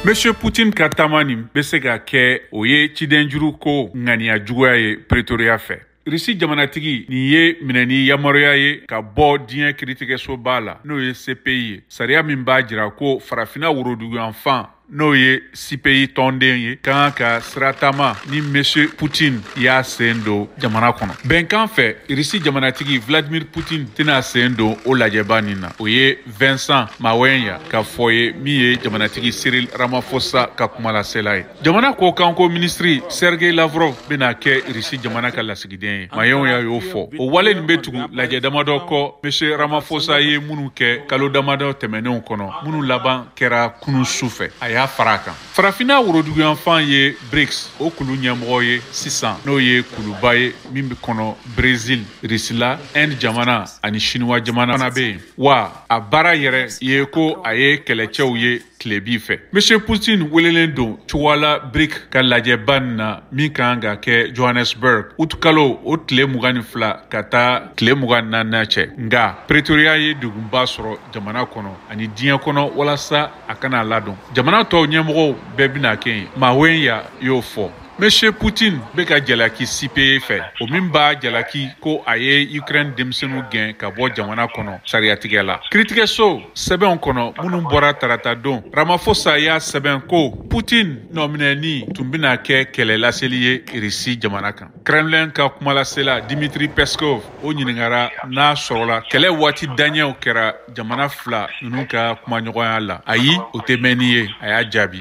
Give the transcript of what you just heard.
Monsieur Putin ka taama nin bɛ se ka kɛ o ye cidenjuru ko ŋaniya juguya ye Pretoria fɛ. Risi jamanatigi nin ye minɛni yamaruya ye ka bɔ diɲɛ kiritigɛsoba la n'o ye CPI ye sariya min b'a jira ko farafina woroduguyanfan n'o ye cpi tɔnden ye ka kan ka siratama ni monsieur putin y'a sen don jamana kɔnɔ bɛnkan fɛ risi jamanatigi vladimir putin tɛna sen don o lajɛba nin na o ye vincent mawenya ka fɔ ye min ye jamanatigi cyril ramaphosa ka kumalasela ye jamana kɔkanko ministri sergei lavrov bɛna kɛ risi jamana ka lasigiden ye mawenya y'o fɔ o wale nin bɛ tugu lajɛ damadɔ kɔ monsieur ramaphosa ye minnu kɛ kalo damadɔ tɛmɛnenw kɔnɔ minnu laban kɛra kunun su fɛ a y'a fara a kan farafinna woroduguyanfan ye brics o kulu ɲɛmɔgɔ ye sisan n'o ye kuluba ye min bɛ kɔnɔ brezil risila inde jamana ani siniwa jamana fana bɛ yen wa a baara yɛrɛ ye ko a ye kɛlɛcɛw ye tilebin fɛ monsieur putin welelen don cogoya la brics ka lajɛba nin na min ka kan ka kɛ johannesburg utukalo o tile mugan ni fila ka taa tile mugan ni naaninan cɛ nga pretoria ye degunba sɔrɔ jamana kɔnɔ ani diɲɛ kɔnɔ walasa a kana a ladon jamana tɔw ɲɛmɔgɔw bɛɛ bɛna kɛ yen Mawenya y'o fɔ Monsieur Poutine bɛ ka jalaki CPI fɛ o min b'a jalaki ko a ye Ukraine denmisɛnninw gɛn ka bɔ jamana kɔnɔ sariyatigɛ la kiritigɛso sɛbɛnw kɔnɔ minnu bɔra tarata don Ramaphosa y'a sɛbɛn ko Poutine nɔminɛni tun bɛna kɛ kɛlɛ laseli ye Russie jamana kan kremlin ka kumalasela dimitri peskov o ɲiningara n'a sɔrɔla kɛlɛ waati daɲɛw kɛra jamana fila ninnu ka kumaɲɔgɔnya la ayi o tɛ mɛnni ye a y'a jaabi